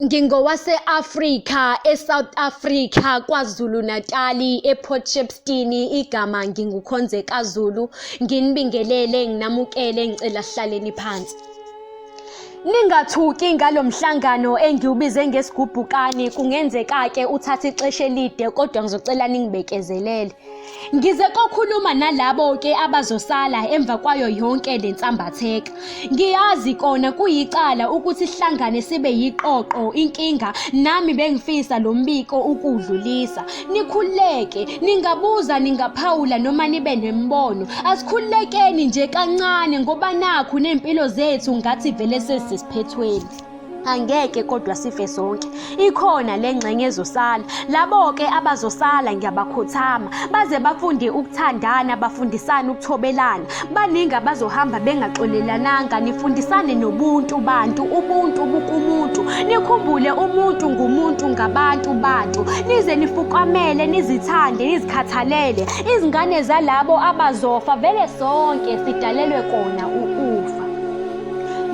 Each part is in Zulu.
Ngingowase-Afrika, eSouth Africa, KwaZulu-Natali, ePort Shepstone. Igama nginguKhonzeka Zulu. Nginibingelele, nginamukele, ngicela sihlaleni phansi. Ningathuki ngalo mhlangano engiwubize ngesigubhukane kungenzeka-ke uthathe ixesha elide kodwa ngizocela ningibekezelele. Ngize kokhuluma nalabo ke abazosala emva kwayo yonke le nsambatheka. Ngiyazi kona kuyicala ukuthi sihlangane sibe yiqoqo inkinga nami bengifisa lo mbiko ukudlulisa. Nikhuleke, ningabuza ningaphawula noma nibe nembono. Asikhulekeni nje kancane ngoba nakhu nempilo zethu ngathi vele sesisiphethweni. Angeke kodwa sife sonke. Ikhona le ngxenye ezosala. Labo-ke abazosala ngiyabakhothama baze bafunde ukuthandana, bafundisane ukuthobelana. Baningi abazohamba bengaxolelananga, nifundisane nobuntu bantu, ubuntu bukumuntu. Nikhumbule umuntu ngumuntu ngabantu bantu. Nize nifukamele, nizithande, nizikhathalele. Izingane zalabo abazofa vele sonke sidalelwe kona ukufa.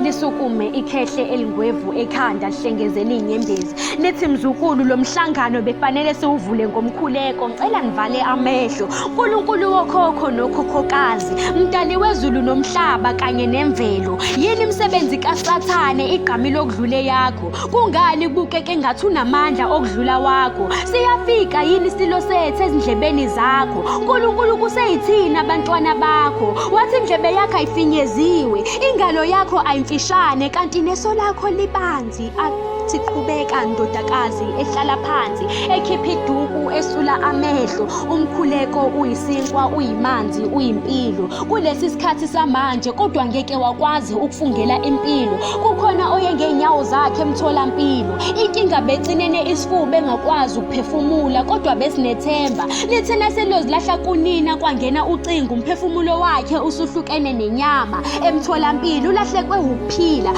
lisukume ikhehle elingwevu ekhanda lihlengeze liyinyembezi lithi mzukulu lo mhlangano befanele siwuvule ngomkhuleko ngicela nivale amehlo nkulunkulu wokhokho nokhokhokazi mdali wezulu nomhlaba kanye nemvelo yini imisebenzi kasathane igqami lokudlule yakho Kungani kubukeka engathi unamandla okudlula wakho? Siyafika yini isilo sethu ezindlebeni zakho? Nkulunkulu kuseyithini abantwana bakho? Wathi indlebe yakho ayifinyeziwe, ingalo yakho ayimfishane kanti neso lakho libanzi. Athi qhubeka ndodakazi ehlala phansi, ekhipha iduku esula amehlo. Umkhuleko uyisinkwa, uyimanzi, uyimpilo. Kulesi sikhathi samanje kodwa ngeke wakwazi ukufungela impilo. kukhona oye ngey'nyawo zakhe emtholampilo inkinga becinene isifuba engakwazi ukuphefumula kodwa besinethemba lithena selozilahla kunina kwangena ucingo umphefumulo wakhe usuhlukene nenyama emtholampilo ulahlekwe wukuphila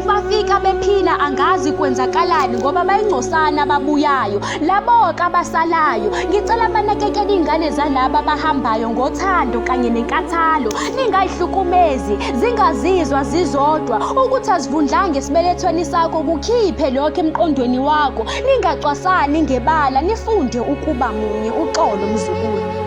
bafika bephila angazi kwenzakalani ngoba bayingcosana ababuyayo laboka abasalayo ngicela banakekele iy'ngane zalaba abahambayo ngothando kanye nenkathalo ningayihlukumezi zingazizwa zizodwa ukuthi azivundlanga esibelethweni sakho kukhiphe lokho emqondweni wakho ningacwasani ngebala nifunde ukuba munye uxolo mzukulu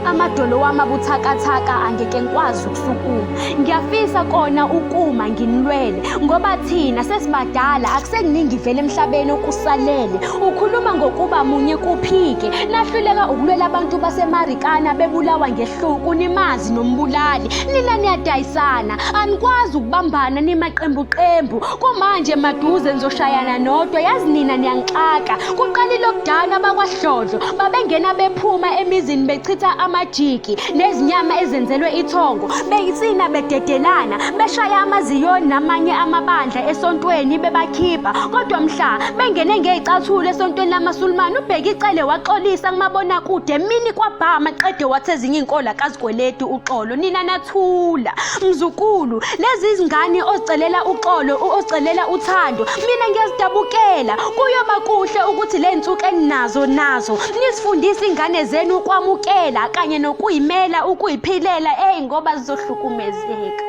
amadolo wami abuthakathaka angeke ngikwazi ukusukuma ngiyafisa kona ukuma nginilwele ngoba thina sesibadala akusekuningi vele emhlabeni okusalele ukhuluma ngokuba munye kuphike nahluleka ukulwela abantu basemarikana bebulawa ngehluku nimazi nombulali nina niyadayisana anikwazi ukubambana nimaqembuqembu kumanje maduze nizoshayana nodwa yazi nina niyangixaka kuqala ilokudana bakwahlodlo babengena bephuma emizini bechitha amajiki nezinyama ezenzelwe ithongo beyisina bededelana beshaya amaziyoni namanye amabandla esontweni bebakhipha kodwa mhla bengene ngeyicathulo esontweni lamasulumane ubheka icele waxolisa kumabonakude mini kwabhama qede wathi ezinye iy'nkola kazikweleti uxolo nina nathula mzukulu lezi zingane ozicelela uxolo ozicelela uthando mina ngiyazidabukela kuyoba kuhle ukuthi le nsuku eninazo nazo nizifundise ingane zenu ukwamukela kanye nokuyimela ukuyiphilela eyi ngoba zizohlukumezeka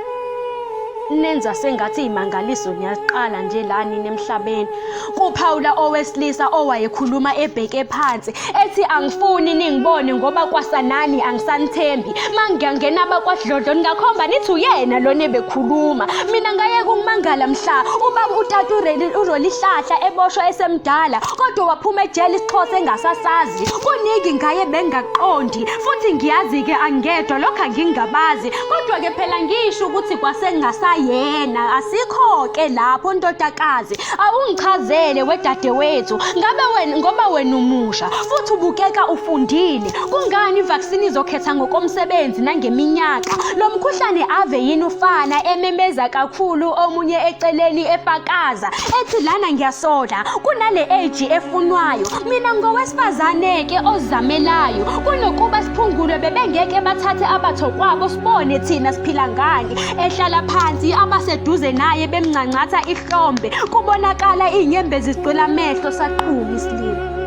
nenza sengathi imangaliso niyaqala nje la nini emhlabeni kuphawula owesilisa owayekhuluma ebheke phansi ethi angifuni ningibone ngoba kwasanani angisanithembi mangiyangena abakwadlodlo ningakhomba nithi uyena lona ebekhuluma mina ngayeka ukumangala mhla ubaba utata urolihlahla eboshwa esemdala kodwa waphuma ejele isixhosa engasasazi kuningi ngaye bengaqondi futhi ngiyazi-ke angedwa lokhu angingabazi Kodwa ke phela ngisho ukuthi kwasengasayena asikho-ke lapho ntotakazi awungichazele wedadewethu ngabe wena ngoba wena umusha futhi ubukeka ufundile kungani ivaccine izokhetha ngokomsebenzi nangeminyaka lo mkhuhlane ave yini ufana ememeza kakhulu omunye eceleni efakaza ethi lana ngiyasola kunale age efunwayo Mina ngowesifazane-ke ozamelayo kunokuba siphungulwe bebengeke bathathe abathokwabo sibone thina siphila ngani ehlala phansi abaseduze naye bemncancatha ihlombe kubonakala iy'nyembezi zigcwela amehlo saqhuma isilima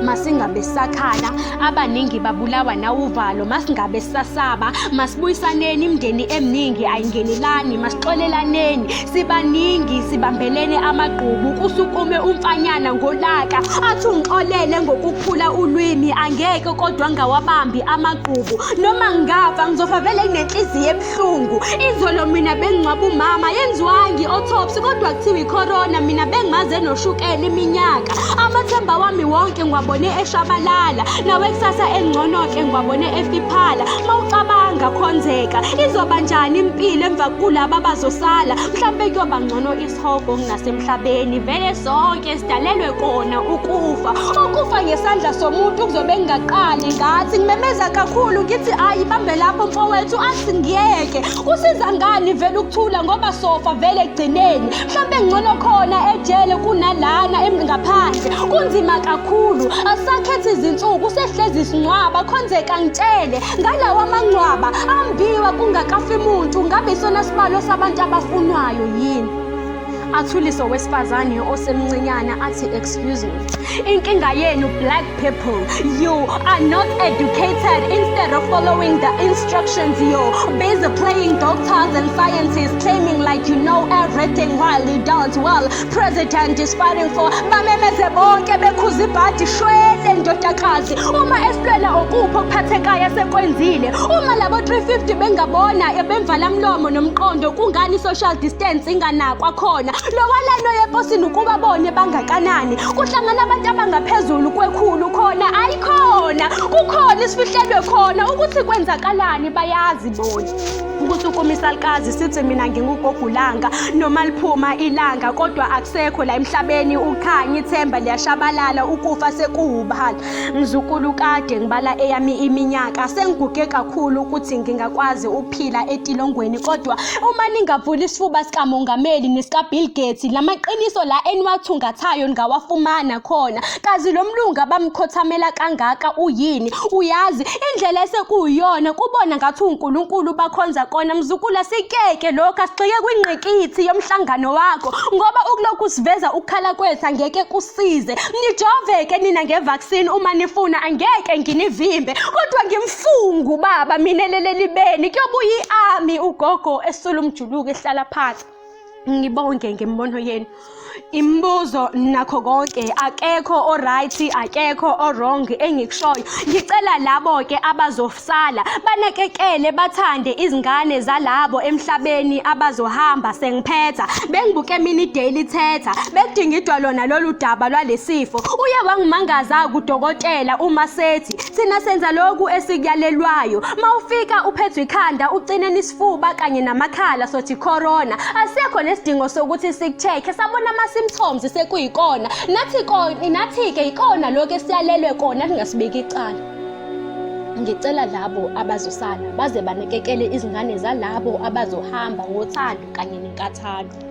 masingabe sakhala abaningi babulawa nawuvalo masingabe sasaba masibuyisaneni imndeni eminingi ayingenelani masixolelaneni sibaningi sibambelene amagqubu kusukume umfanyana ngolaka athi ungixolele ngokuphula ulwimi angeke kodwa ngawabambi amagqubu noma ngafa ngizofa vele nginenhliziyo ebuhlungu izolo mina bengingcwaba umama yenziwangi autopsy kodwa kuthiwa icorona mina bengimaze noshukela iminyaka amathemba wami wonke ngiwabone eshabalala nawe kusasa engcono-ke ngiwabone efiphala mawucabanga khonzeka Izoba njani impilo emva kulaba abazosala? Mhlampe kuyoba ngcono isihogo kunasemhlabeni. Vele sonke sidalelwe kona ukufa. Ukufa ngesandla somuntu kuzobe kungaqali ngathi. Ngimemeza kakhulu ngithi ayi bambe lapho mfowethu athi ngiyeke. Kusiza ngani vele ukuthula ngoba sofa vele ekugcineni. Mhlampe ngcono khona ejele kunalana em- ngaphandle. Kunzima kakhulu. Asakhethe izinsuku sehlezi sinqwaba khonzeka ngitshele. ngalawa mangcwaba ambiwa kungakafi muntu ngabe isona sibalo sabantu abafunwayo yini athulise owesifazane osemncinyana athi excuse me inkinga yenu black people you are not educated instead of following the instructions you busy playing doctors and scientists claiming like you know everything while you don't well president is fighting for bamemeze bonke bekhuza ibhadi shwele ndodakazi uma esilwela okuphi okuphathekayo asekwenzile uma labo 350 bengabona ebemvala mlomo nomqondo kungani social distance inganakwa khona lowalano yeposini ukuba bone bangakanani kuhlangana abantu abangaphezulu kwekhulu khona ayikhona kukhona isifihlelwe khona ukuthi kwenzakalani bayazi bona ukusukuma isalukazi sithi mina ngingugogulanga noma liphuma ilanga kodwa akusekho la emhlabeni ukhanya ithemba liyashabalala ukufa sekuwubhala mzukulu kade ngibala eyami iminyaka sengiguge kakhulu ukuthi ngingakwazi ukuphila etilongweni kodwa uma ningavula isifuba sikamongameli nesikabill gates la maqiniso la eniwathungathayo ningawafumana khona kazi lo mlungu abamkhothamela kangaka uyini uyazi Indlela esekuyiyona kubona ngathi uNkulunkulu bakhonza kona mzukulu asikeke lokho asigxike kwingqikithi yomhlangano wakho ngoba ukulokhu siveza ukukhala kwethu angeke kusize nijoveke nina ngevaccine uma nifuna angeke nginivimbe kodwa ngimfungu baba mina lelelibeni kuyobuya iami ugogo esula umjuluko ehlala phansi ngibonge ngemibono yenu imibuzo nakho konke akekho oright akekho owrong engikushoyo ngicela labo ke abazosala banekekele bathande izingane zalabo emhlabeni abazohamba sengiphetha bengibuke mini daily thetha bekudingidwa lona lolu daba lwalesifo uye wangimangaza kudokotela uma sethi sina senza lokhu esikuyalelwayo mawufika uphethwe ikhanda ucine isifuba kanye namakhala sothi corona asekho nesidingo sokuthi sikuchekhe sabona ama-symptoms sekuyikona nathi ko nathi-ke yikona lokho esiyalelwe kona kungasibeki icala ngicela labo abazosala baze banakekele izingane zalabo abazohamba ngothando kanye nenkathalo